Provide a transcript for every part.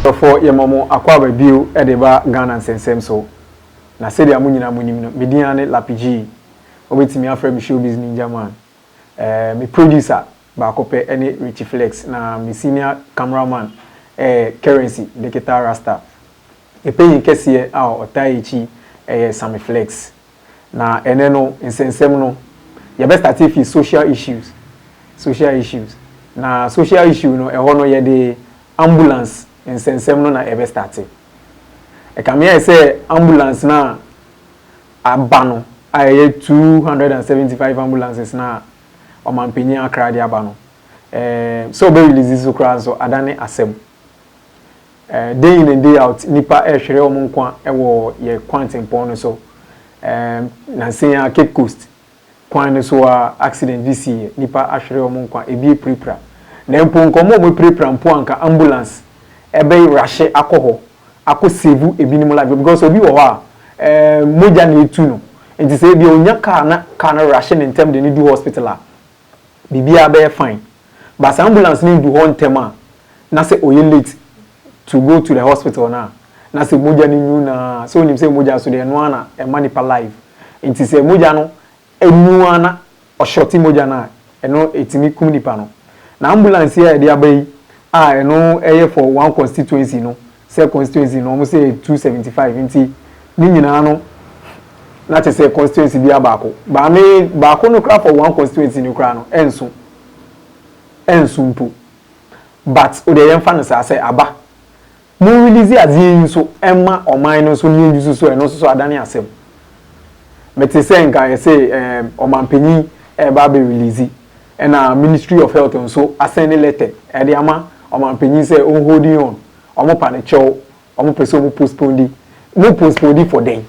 Adɔfoɔ yɛma mo akwaaba bio de reba Ghana nsɛnsɛm so. Na sɛdeɛ mo nyinaa monim no, me din ara ne Lappy Gyee. Wobɛtumi afrɛ me Showbiz Ninja Man. Eh, me producer baako pɛ ne Richie Flex na me senior camera man yɛ Currency Digital Rasta. Me panyin kɛseɛ a ɔtaa yɛn akyi yɛ Sammy Flex. Na ɛnnɛ no, nsɛnsɛm no, yɛbɛ starte fi social issues, social issues. Na social issue no, ɛhɔ no yɛde ambulance nsɛnsɛm no na ɛbɛ starte. Ɛkame ayɛ sɛ ambulance no a aba no, a ɛyɛ two hundred and seventy five ambulances no a Ɔmanpanyin Accra de aba no, ɛɛm, sɛ ɔbɛ release so koraa nso, adane asɛm. Day in and day out, nnipa rehwere wɔn nkwa wɔ yɛn kwantempɔn no so. Nnansa yi ara, Cape Coast kwan no so ara, accident bi siiɛ. Nnipa ahwere wɔn nkwa, ebi apirapira. Na mpo nka wɔn a wɔapirapira mpo a, anka ambulance bɛrahye akɔ hɔ akɔ save ebinom life. Because obi wɔ hɔ a, mogya na ɛretu no. Nti sɛ ebia ɔnya car na car no rehye no ntɛm de no du hospital a, biribiara bɛyɛ fine but sɛ ambulance no ndu hɔ ntɛm a na sɛ ɔyɛ late to go to the hospital no a na sɛ mogya no nwu no ara sɛ wonim sɛ mogya nso deɛ ɛno ara na ɛma nipa life nti sɛ mogya no nwu ara na ɔshorte mogya no a ɛno ɛtumi kum nipa no na ambulance yi a yɛde aba yi a ɛno ɛyɛ for one constituency no Sɛ constituency no wɔn sɛ yɛ two seventy five nti ne nyinaa no na kyɛ sɛ constituency bia baako baa me baako no koraa for one constituency no koraa no ɛnso ɛnso mpo but o deɛ yɛnfa no saa sɛ aba mo release adeɛ yi nso ɛma ɔman no nso ne yɛn yusu so ɛno nso so adane asɛm mete sɛ nka yɛsɛ ɛɛm ɔmanpanyin ɛɛba abɛ release Ɛna ministry of health nso asɛnde lɛtɛ ɛde ama ɔmanpanyin sɛ ɔn holding on, ɔmo pa no kyɛw, ɔmo pɛ sɛ ɔmo postponedi, mo postponedi for dɛn?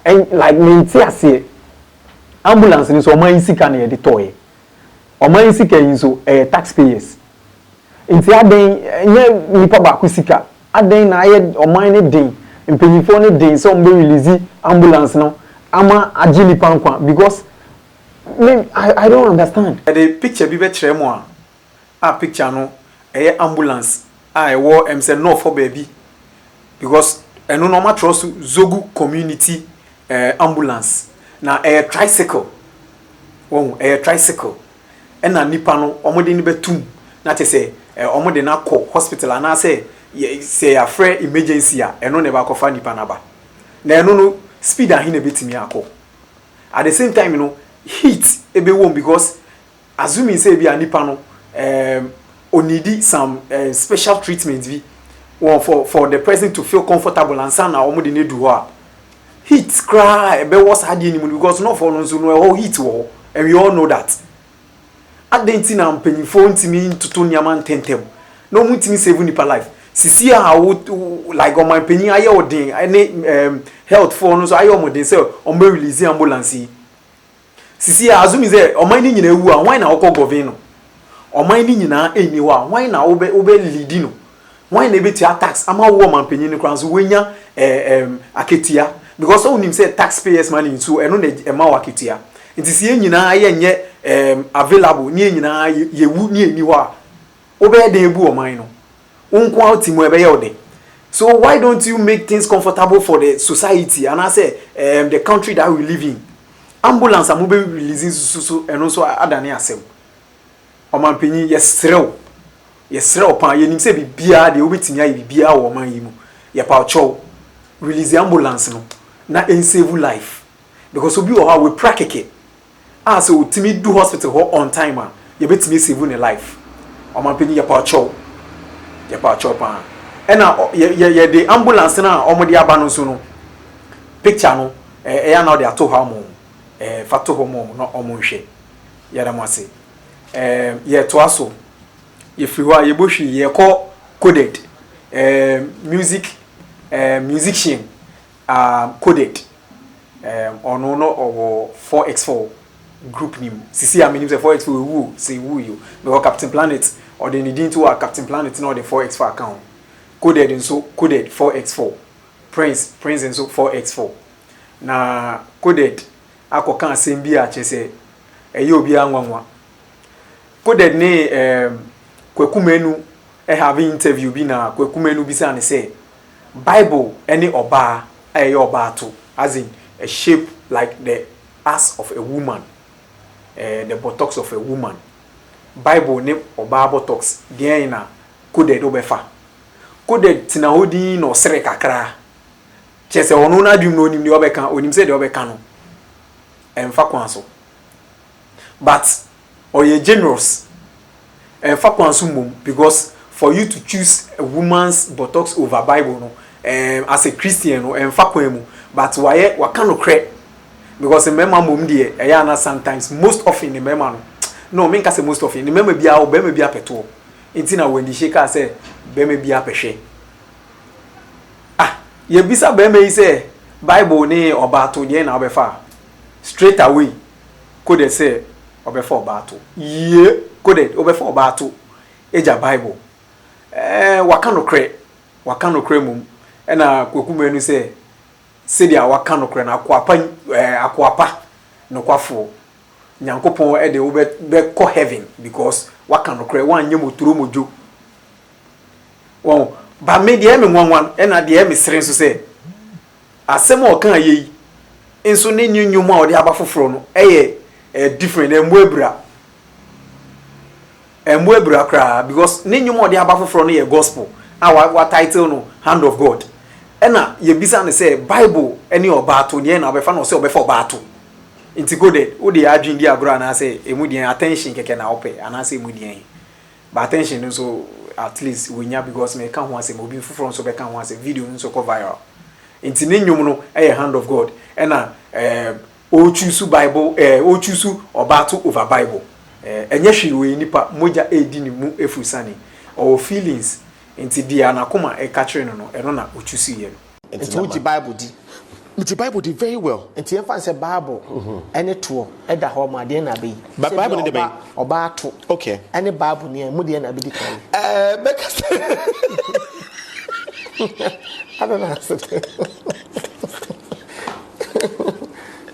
Ɛn like mente aseɛ. Ambulance no nso ɔman yi sika na yɛde tɔɔɛ, ɔman yi sika yi nso ɛyɛ tax payers nti adɛn ɛnyɛ nipa baako sika, adɛn na ayɛ ɔman no den, mpanyinfoɔ no den sɛ ɔmo bɛ release ambulance no ama agye nipa nkwa because Me I don't understand. Yɛde picture bi bɛkyerɛ mo a a picture no ɛyɛ ambulance a ɛwɔ ɛm sɛ North hɔ baabi because ɛno no wɔatwerɛ so Zogu community eh ambulance na ɛyɛ tricycle wahu ɛyɛ tricycle ɛna nipa no wɔde no bɛto mu na kyerɛ sɛ eh wɔde no akɔ hospital anaasɛ yɛ sɛ yɛafrɛ emergency a ɛno na ɛbɛakɔfa nipa no aba na ɛno no speed ahe na ɛbɛtumi akɔ at the same time no heat ɛbɛwom because assuming sɛ ebi a nipa no um, onidi some um, special treatment bi wɔn for for the person to feel comfortable ansa na wɔn de no edu hɔ a heat koraa ɛbɛwɔ saa adeɛ no mu no because nɔfoɔ no nso no ɛhɔ heat wɔ hɔ and we all know that. Adɛn nti na mpanyimfoɔ ntumi ntoto nneɛma ntɛntɛm na wɔn ntumi save nnipa life? Sisi a wo like ɔmanpanyin ayɛ wo den ɛne ɛɛm health foɔ no nso ayɛ wɔn den sɛ wɔn bɛ release ambulance yi. Sisi a assuming sɛ ɔman no nyinaa wu a hwan na ɔkɔ govern no? Ɔman no nyinaa nni hɔ a hwan na wo bɛ wo bɛ leadi no Wan na ebetua tax ama wo wɔ ɔmanpanyin no koraa nso woanya eh em akatua because sɛ wonim sɛ tax payers money nso ɛno na ɛma wo akatua nti sɛ yɛn nyinaa yɛ nyɛ em available ne yɛn nyinaa yɛ yɛwu ne yɛnni hɔ a wobɛyɛ dɛn abu ɔman no wo nko ara wote mu a ɛbɛyɛ wo dɛ so why don't you make things comfortable for the society anaasɛ em the country that we live in ambulance a mobɛ release nso so ɛno nso adane asɛm. Ɔmanpanyin, yɛsrɛ wo, yɛsrɛ wo paa, yɛnim sɛ biribiara deɛ wobɛtumi ayɛ biribiara wɔ ɔman yi mu, yɛpaw kyɛw, release ambulance no na ɛnsave life because obi wɔ hɔ a wapira kɛkɛ a sɛ ɔtumi du hospital hɔ on time a, yɛbɛtumi asave ne life. Ɔmanpanyin, yɛpaw kyɛw, yɛpaw kyɛw paa. Ɛna yɛ, yɛ, yɛde ambulance no a wɔde aba no nso no, picture no, ɛyɛ a na wode ato hɔ ama wɔn, ɛɛ, fa to hɔ ma wɔn na wɔnhwɛ. Yɛda mo ase. Ɛɛm, yɛtoa so. Yɛfiri hɔ a, yɛbɔ hwii, yɛkɔ coded. Ɛɛm, music, ɛɛm, musician, um, coded. Ɛɛm, ɔno no ɔwɔ 4x4 group ni mu. Sisi a menim sɛ 4x4 ewu o, sɛ ewu yi o. Because Captain Planet, ɔde ne din to a, Captain Planet na ɔde 4x4 aka ho. Coded nso, coded 4x4. Prince, Prince nso 4x4. Na coded. akɔka asɛm bi a kyerɛ sɛ ɛyɛ obiara nwanwa. Coded ne um, Kwaku Manu have interview bi na Kwaku Manu bisaa no sɛ, Bible ne ɔbaa a ɛyɛ ɔbaa to, as in a shape like the ass of a woman, uh, the buttocks of a woman. Bible ne ɔbaa buttocks, deɛn na Coded wobɛfa? Coded tena hɔ dinn na ɔsere kakra. Kyerɛ sɛ, ɔno n'adwenem no ɔnim deɛ ɔbɛka, ɔnim sɛ deɛ ɔbɛka no ɛmfa kwan so. But ɔyɛ generous, ɛmfa kwan so mmom because for you to choose a woman's buttocks over Bible no ɛɛm as a Christian no ɛmfa kwan mu but wayɛ waka nokorɛ because mmarima mmom deɛ ɛyɛ a na sometimes most often ne mmarima no no menka sɛ most often ne mmarima biara ɔbarima bi apɛtoɔ nti na Wendy Shay kaa sɛ barima biara pɛhwɛ. Ah, yɛbisa barima yi sɛ Bible ne ɔbaato deɛn na wobɛfa a, straight away coded sɛ ɔbɛfa ɔbaato. Yie coded wobɛfa ɔbaato agya Bible. Ɛɛ waka nokorɛ, waka nokorɛ mmom. Ɛna Kwaku Manu sɛ sɛdeɛ waka nokorɛ no akoa pa ɛɛ akoa pa nokwafoɔ Nyankopɔn de wobɛkɔ heaven because waka nokorɛ woanyɛ motoro modwo. Wɔn, ba me deɛ ɛyɛ me nwanwa ɛna deɛ ɛyɛ me sere nso sɛ, asɛm a ɔka yɛ yi nso ne ne nnwom a ɔde aba foforɔ no ɛyɛ ɛyɛ different, ɛmmɔ abira. Ɛmmɔ abira koraa because ne nnwom a ɔde aba foforɔ no yɛ gospel a wa wa title no Hand of God. Ɛna yɛbisa no sɛ Bible ne ɔbaa to neɛ na ɔbɛfa na ɔse ɔbɛfa ɔbaa to. Nti Golden, wode adwene di agorɔ anaasɛ ɛmu deɛn, attention kɛkɛ na wopɛ anaasɛ ɛmu deɛn? But attention no nso at least wanya because meka ho asɛm obi foforɔ nso bɛka ho asɛm video no nso kɔ viral nti ne nnwom no yɛ hand of God ɛna eh, o choose bible eh, o choose ɔbaa to over bible eh, ɛnyɛ hwee ɔyɛ nipa mogya ɛredi ne mu ɛfuru sane ɔwɔ feelings nti deɛ anakoma ɛka kyerɛ no no ɛno na o choose yɛ no. Nti Nti wogye Bible di? Megye Bible di very well. Nti yɛmfa no sɛ Bible ɛne mhm. toɔ ɛda hɔ ma adeɛ na abɛyi. Bible ne de bɛyi. Ɔbaa ato. Okay. Ɛne Bible ni ɛmu deɛ na abɛdi kan. Ɛɛ bɛka sɛ. Adana asete.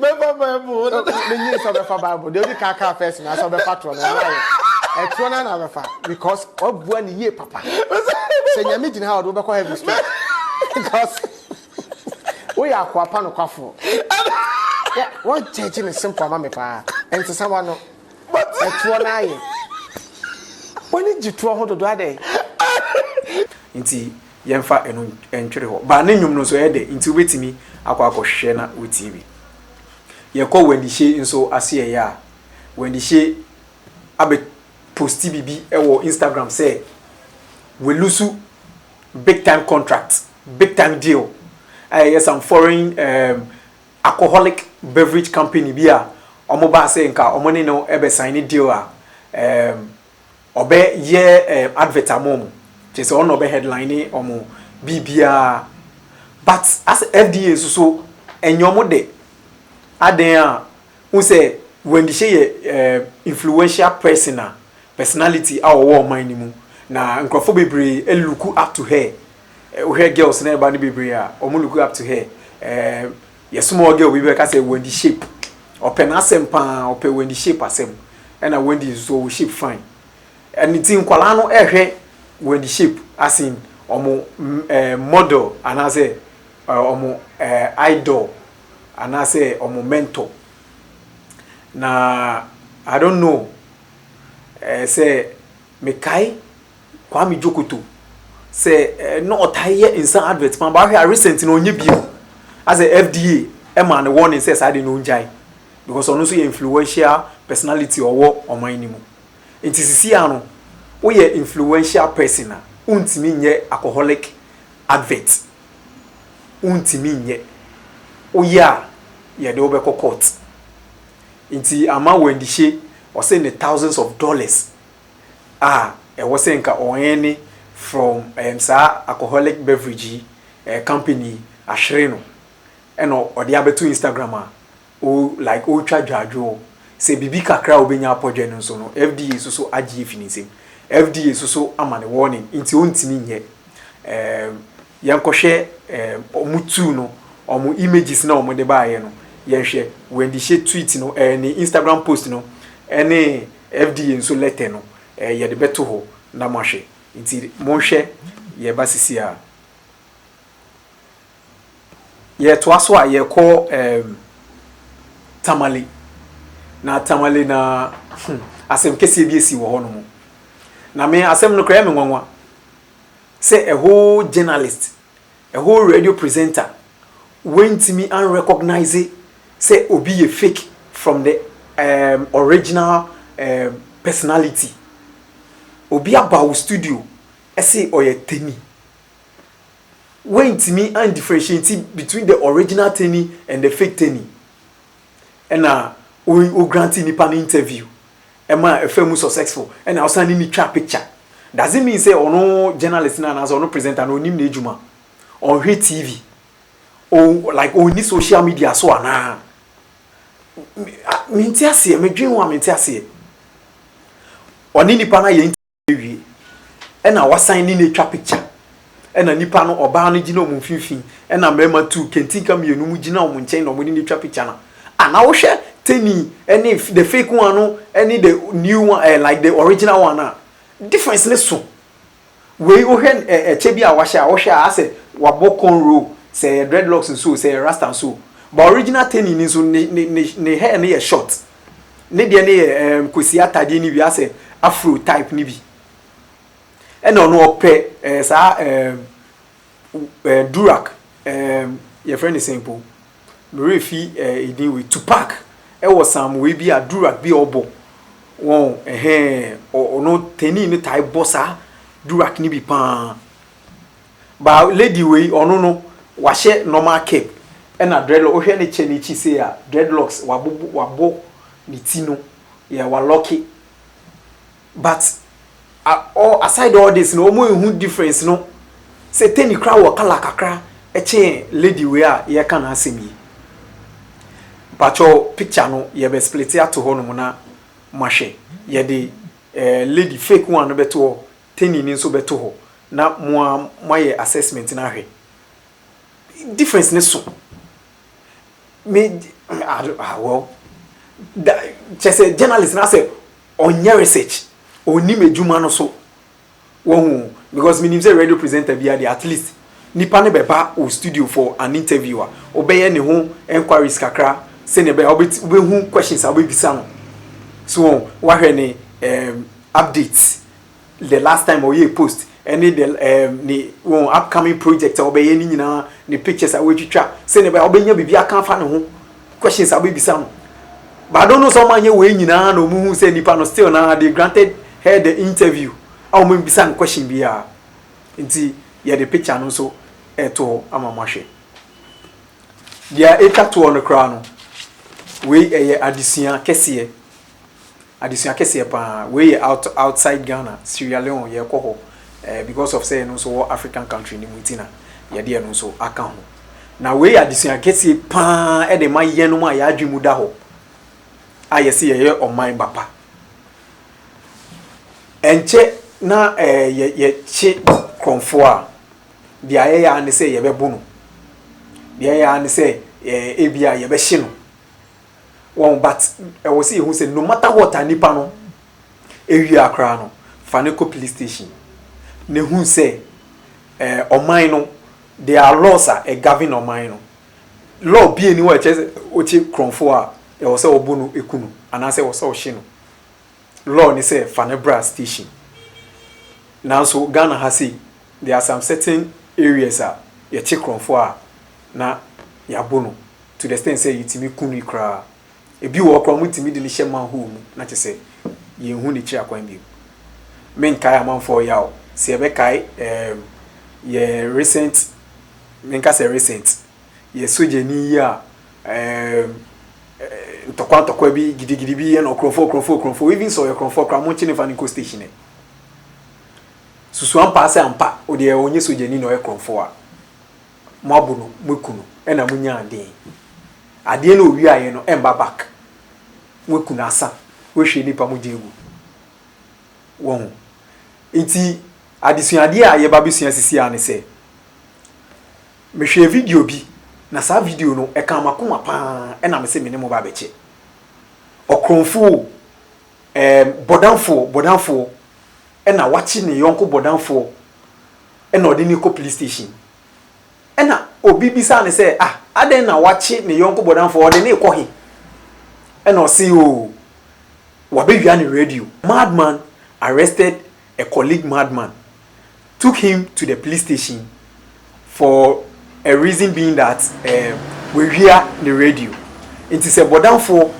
mɛfa bible no menye sɛ ɔbɛfa bible deɛ wode kaakaa fɛs na sɛ ɔbɛfa torɔ no ɔmayɛ ɛtorɔ no na bɛfa because wabua ne yie papa sɛ nyame gyina ha ɔde wobɛkɔ heaven straight because woyɛ akoa pa nokwafoɔ wɔnkyɛgye ne simple ama me paa ɛntesa wa no ɛtoɔ no ayɛ wɔne gye toɔ ho dodo adɛn nti Yɛmfa ɛno ntwere hɔ. Ba ne nnwom no nso, ɛyɛ dɛ nti wobɛtumi akɔ akɔhwehwɛ na woatie bi. Yɛkɔ Wandihye nso ase ɛyɛ a, Wandihye abɛ posti biribi wɔ Instagram sɛ walusu big time contract, big time deal a ɛyɛ some foreign um, alcoholic beverage company bi a wɔbaa sɛ nka wɔne no bɛsaene deal a um, ɔbɛ yɛ ɛɛ advert ama ɔmo kyerɛ sɛ ɔno ɔbɛ headline ɔmo biribiara but asɛ FDA nso so ɛnyɛ ɔmo dɛ adan a wohu sɛ Wendy Shay yɛ ɛɛ influential person a personality a ɔwɔ ɔman no mu na nkorɔfoɔ bebree ɛluku up to her wohwɛ girls na ɛba no bebree a ɔmo luku up to her ɛɛ. Yɛsoma ɔɔ girl bi bɛka sɛ Wendy shape ɔpɛ n'asɛm paa ɔpɛ Wendy shape asɛm ɛna Wendy nso so ɔwɔ shape fine ɛno nti nkwadaa no ɛhwɛ Wendy shape as in ɔmo ɛɛ model anaasɛ ɛɛ ɔmo ɛɛ idol anaasɛ ɔmo mentor na I don't know ɛɛ sɛ mekae Kwame Djokoto sɛ na ɔtaa yɛ nsa advert paa, but ahwɛ a recent no ɔnyɛ bio. Asɛ FDA ɛmaa no warning sɛ saa de no ɔngyae because ɔno nso yɛ influential personality ɔwɔ ɔman no mu. Nti sisi a no woyɛ influential person a wontumi nyɛ alcoholic advert. Wontumi nyɛ. Woyɛ a yɛde wo bɛkɔ court. Nti ama Wendy Shay ɔse ne thousands of dollars. a ɛwɔ sɛ nka ɔɛn ne from ɛɛm saa alcoholic beverage yi ɛɛ company yi ahwere no ɛna ɔde abɛto Instagram a o like ɔretwa dwaadwoo sɛ biribi kakra a ɔbɛnya apɔdwɛ no nso no FDA so so agye afi ne nsam FDA so so ama no warning nti ɔntumi nyɛ ɛɛm yɛnkɔhwɛ ɛɛm ɔmo tuu no ɔmo images na ɔmo de baayɛ no yɛnhwɛ Wendy Hye tweet no ɛɛ ne Instagram post no ɛne FDA nso lɛtɛ no eh, yɛde bɛto hɔ na moahwɛ. Nti monhwɛ yɛn ba sisi a. Yɛtoa so a, yɛkɔ eh, Tamale. Na Tamale na hmm, asɛm kɛseɛ bi asi wɔ hɔ nom. Na me asɛm no koraa ɛyɛ me nwanwa sɛ a whole journalist A whole radio presenter wantumi an recognise sɛ obi yɛ fake from the um original um personality. Obi aba wo studio se ɔyɛ Teni, wantumi an differentiate between the original Teni and the fake Teni. Ɛna wo grant nipa no interview ɛma ɛfa mu successful ɛna wo san ne no twa picture doesn't mean sɛ ɔno journalist no anaasɛ ɔno presenter no ɔnim n'adwuma ɔnhwɛ TV like ɔnni social media so anaa mente aseɛ medwen ho a mente aseɛ ɔne nipa no ayɛ awie ɛna wasan ne no atwa picture ɛna nipa no ɔbaa no gyina wɔn mfimfini ɛna mmarima tuu kantinka mmienu mu gyina wɔn nkyɛn na wɔn de no atwa picture na a na wohwɛ teni ɛne the fake one no ɛne the new one ɛɛ like the original one a difference ne so wei wohwɛ ɛɛ ɛkyɛ bi a wahyɛ a wohwɛ a asɛ wabɔ cornrow sɛ ɛyɛ dreadlocks nso sɛ ɛyɛ rasta nso ba original teni ni nso ne ne ne ne hair no yɛ short. ne deɛ no yɛ ɛɛm kwasi atadeɛ no bi asɛ afro type no bi ɛna ɔno ɔpɛ ɛɛ saa ɛɛm ɛɛ durak ɛɛm yɛfrɛ no sɛn po mmerɛ fi ɛɛ edin wei tupac ɛwɔ sam wei bi a durak bi a ɔbɔ wɔn ɛhɛn ɔno tɛni no tae bɔ saa durak no bi paa But lady wei ɔno no wahyɛ normal cap ɛna dreadlock wohwɛ ne kyɛ no akyi sei a dreadlocks wabobo wabɔ ne ti no yeah wa locke but all aside all this no ɔmo nhu difference no sɛ Teni koraa wɔ colour kakra ɛkyɛn lady wei a yɛreka n'asɛm yi mpakyɛw picture no yɛbɛ splite ato hɔ nom na mo ahwɛ yɛde eh, lady fake one no bɛto hɔ Teni no nso bɛto hɔ na mo ara moayɛ assessment no ahwɛ. Difference no so. Me ah well da kyerɛ sɛ journalist no asɛ ɔnyɛ research, ɔnnim adwuma no so. Wahu? Because menim sɛ radio presenter biara deɛ at least nipa no bɛba wo studio for an interview a, wobɛyɛ ne ho enquiries kakra sɛdeɛ ɛbɛyɛ a wobɛti wobɛhu questions a wobɛbisa no. So wahu? Wahwɛ ne ehm updates the last time ɔyɛɛ post ɛne the ɛɛm ne wɔn upcoming project a ɔbɛyɛ ne nyinaa ne pictures a wɔatwitwa sɛnea ɛbɛyɛ a ɔbɛnya biribi aka afa ne ho questions a ɔbɛbisa no but I don't know sɛ wɔn anyɛ wɔn nyinaa na wɔn hu sɛ nipa no still na they granted her the interview a wɔn bisa no question biara nti yɛde picture no nso ɛto hɔ ama mo ahwɛ deɛ ɛtwa toɔ no koraa no wei ɛyɛ adesua kɛseɛ. Adesua kɛseɛ paa wei yɛ out outside Ghana Sierra Leone yɛkɔ hɔ eh because of sɛ yɛno nso wɔ African country no mu nti na yɛde ɛno nso aka ho na wei yɛ adesua kɛseɛ paa ɛde ma yɛnom a yɛn adwene mu da hɔ a yɛse yɛyɛ ɔman ba pa ɛnkyɛ na eh yɛ yɛkye korɔmfoɔ a deɛ ayɛ yɛ ara ne sɛ yɛbɛbo no deɛ ayɛ yɛ ara ne sɛ eh ebia yɛbɛhye no Wɔn but ɛwɔ sɛ yɛhu sɛ no matter what a nipa no ewie a koraa no fa no kɔ police station na ehu sɛ ɛɛ ɔman no there are laws a ɛ govern ɔman no law bi eni hɔ a ɛkyɛ sɛ okye korɔnfo a ɛwɔ sɛ ɔbo no eku no anaasɛ ɛwɔ sɛ ɔhye no law ne sɛ fa no bra station nanso Ghana ha sei there are some certain areas a yɛkye korɔnfo a na yabo no. to the extent sɛ yɛtumi ku no koraa. Ebi wɔ hɔ koraa a wɔtumi de no hyɛ manhole mu na kyerɛ sɛ yɛnhu n'akyiri akwan bio. Menkae amanfoɔ yaw sɛ yɛbɛkae ɛɛm yɛn recent, menka sɛ recent, yɛn sogyani yi a ɛɛm ntɔkwa ntɔkwa bi gidigidi bi yɛ no ɔkorɔmfoɔ ɔkorɔmfoɔ ɔkorɔmfoɔ even sɛ ɔyɛ ɔkorɔmfoɔ koraa monkye no mfa no nkɔ station ɛ. Susu ampa ara sɛ ampa odeɛ ɔnyɛ sogyani na ɔyɛ korɔmfoɔ a. moabo no moeku no na monyaa dee adeɛ na owiaeɛ no ɛmba back moeku no asa woahwie nipa mogya agu wahu nti adesuadeɛ a yɛba bɛsua sisi a ne sɛ mehwɛɛ video bi na saa video no ɛkaa makoma paa ɛna me se me ne mo ba bɛkyɛ ɔkorɔmfoɔ ɛɛm bɔdamfoɔ bɔdamfoɔ ɛna wakye ne yɔnko bɔdamfoɔ na ɔde no rekɔ police station. Ɛnna obi bisaa no sɛ, Ah, adɛn na wakye ne yɔnko bɔdamfoɔ? Ɔde no rekɔ he? Ɛnna ɔse, Oh, wabɛwia ne radio. Madman arrested a colleague madman, took him to the police station for a reason being that um, wawia ne radio. Nti sɛ bɔdamfoɔ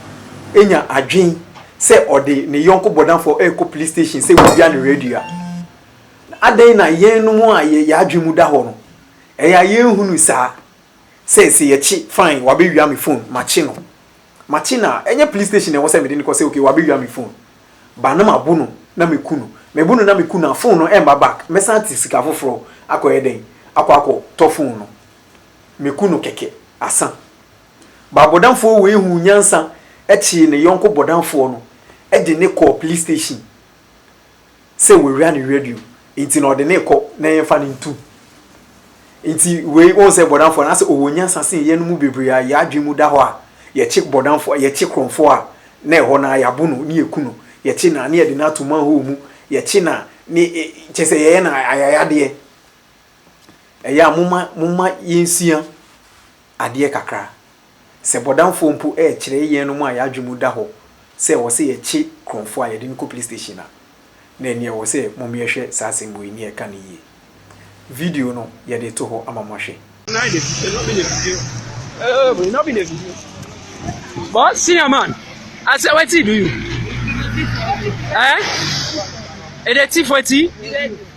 nya adwen sɛ ɔde ne yɔnko bɔdamfoɔ rekɔ police station sɛ wawia ne radio a, Na adɛn na yɛnom a yɛn yɛn adwene mu da hɔ no, ɛyɛ a yɛnhu no saa? Sɛ sɛ yɛkye, fine, wabɛwia me phone, makye no. Makye no a, ɛnyɛ police station na ɛwɔ sɛ mede no kɔ sɛ okay, wabɛwia me phone. But na mabo no na maku no. Mebo no na maku no a, phone no ɛmma back. Mɛsan ate sika foforɔ akɔyɛ dɛn? Akɔ akɔtɔ phone no. Maku no kɛkɛ, asa. But bɔdamfoɔ wei huu nyansa kyee ne yɔnko bɔdamfoɔ no de no kɔɔ police station sɛ wawia ne radio nti na ɔde no rekɔ na yɛmfa no ntu. Nti wei wohu sɛ bɔdamfoɔ no asɛ ɔwɔ nyansa sen yɛn no mu bebree a yɛn adwene mu da hɔ a yɛkye bɔdamfoɔ yɛkye korɔmfoɔ a na ɛhɔ no a yɛabo no ne yɛku no yɛkye no a ne yɛde no ato manhole mu yɛkye no a ne kyɛ sɛ yɛyɛ no ayayadeɛ ɛyɛ a moma moma yɛnsua adeɛ kakra. Sɛ bɔdamfoɔ mpo rekyerɛ yɛnom a yɛn adwene mu da hɔ sɛ ɛwɔ sɛ yɛkye korɔmfoɔ a yɛde no kɔ police station a, na ɛnneɛ ɛwɔ sɛ mommyɛhwɛ saa asɛm wei ne ɛka no yie. Video no yɛde reto hɔ ama moahwɛ. Nine de video no bi na video. Oh, but no bi na video. But senior man, I said what do you? Eh? It is tea for tea?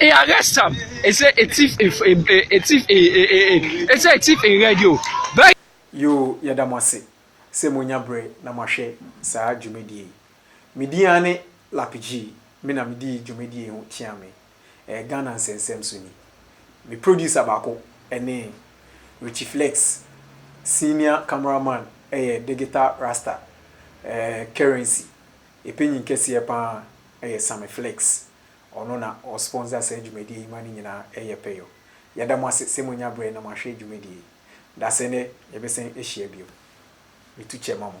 e arrest am e say e thief e e thief e e e e e say e thief in red yo bɛyɛ. Yoo yɛda mo ase sɛ moanya berɛ na moahwɛ saa dwumadie yi. Me din ara ne Lapjee, me na medii dwumadie yi ho kyeame. Ɛyɛ Ghana nsɛnsɛm so ni. Me producer baako ne Richie Flex, senior camera man yɛ Digital Rasta, ɛɛ Currency, yɛ panyin kɛseɛ pa ara yɛ Sammy Flex, Ɔno na ɔ sponsor saa dwumadie yi ma ne nyinaa ɛyɛ pɛ yo. Yɛda mo ase sɛ moanya berɛ na moahwɛ dwumadie yi. Dase nnɛ yɛbɛsan ahyia bio. Metu kyɛ ma mo.